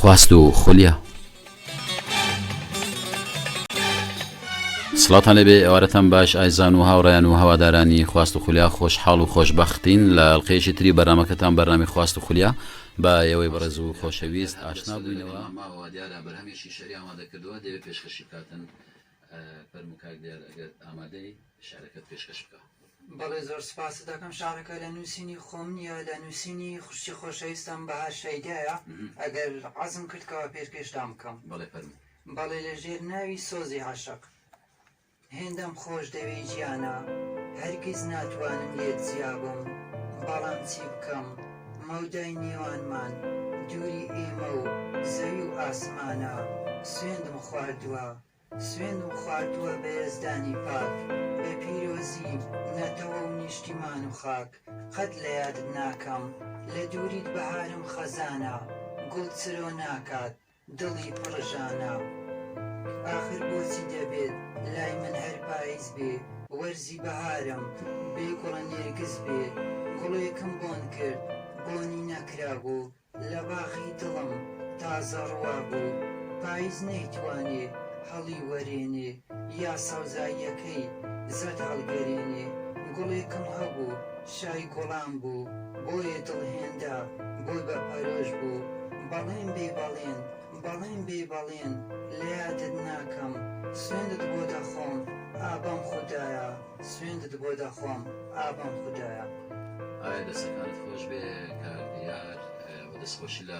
خواست و خولیا سڵاتان لەبێ ئێوارەتان باش ئایزان و هاوڕیان و هەوادارانی خواست و خولیا خۆشحاڵ و خۆشببختین لە ئەلقەیەکی تری بەرنمەکەتان بەرنامی خواست و خولیا بە ئێوەی بەڕێز و خۆشەویست ئاشنا بووینەوە فەرموو کاک دیار ئەگەر ئامادەی شعرەکەت پێشکەش بکە. بەڵێ زۆر سوپاست دەکەم شعرەکە لە نووسینی خۆم نییە لە نووسینی خوشکی خۆشەویستم بەهار شەیدایە ئەگەر عەزم کرد کەوە پێرکێشتان بکەم. بەڵێ فەرموو. بەڵێ لە ژێر ناوی سۆزی عەشق. هێندەم خۆش دەوێی گیانە هەرگیز ناتوانم لێت جیا بم بەڵام چی بکەم. مەودای نێوانمان دووری ئێمە و زەوی و ئاسمانە سوێندم خواردووە سوێندم خواردووە بە یەزدانی پاک بە پیرۆزی نەتەوە و نیشتیمان و خاک قەت لە یادت ناکەم لە دووریت بەهارم خەزانە گوڵ چرۆ ناکات دڵی پڕ ژانا ئاخر بۆچی دەبێت لای من هەر پایز بێ وەرزی بەهارم بێ گوڵە نێرگز بێ گوڵێکم بۆن کرد بۆنی نەکرابوو لە باخی دڵم تازە ڕوابوو پایز نەیتوانێ هەڵی وەرێنێ یا سەوزاییەکەی زەرد هەڵگەرینی، گوڵێکم هەبوو شای گوڵان بوو بۆیە دڵ هێندا بۆی بە پەرۆش بوو بەڵێن بێی بەڵێن بەڵێن بێی بەڵێن لەیادت ناکەم سوێندت بۆ دەخۆم ئا بەم خودایە سوێندت بۆ دەخۆم ئا بەم خودایە. ئایا دەستەکانت خۆشبێ کاک دیار و دەستخۆشی لە.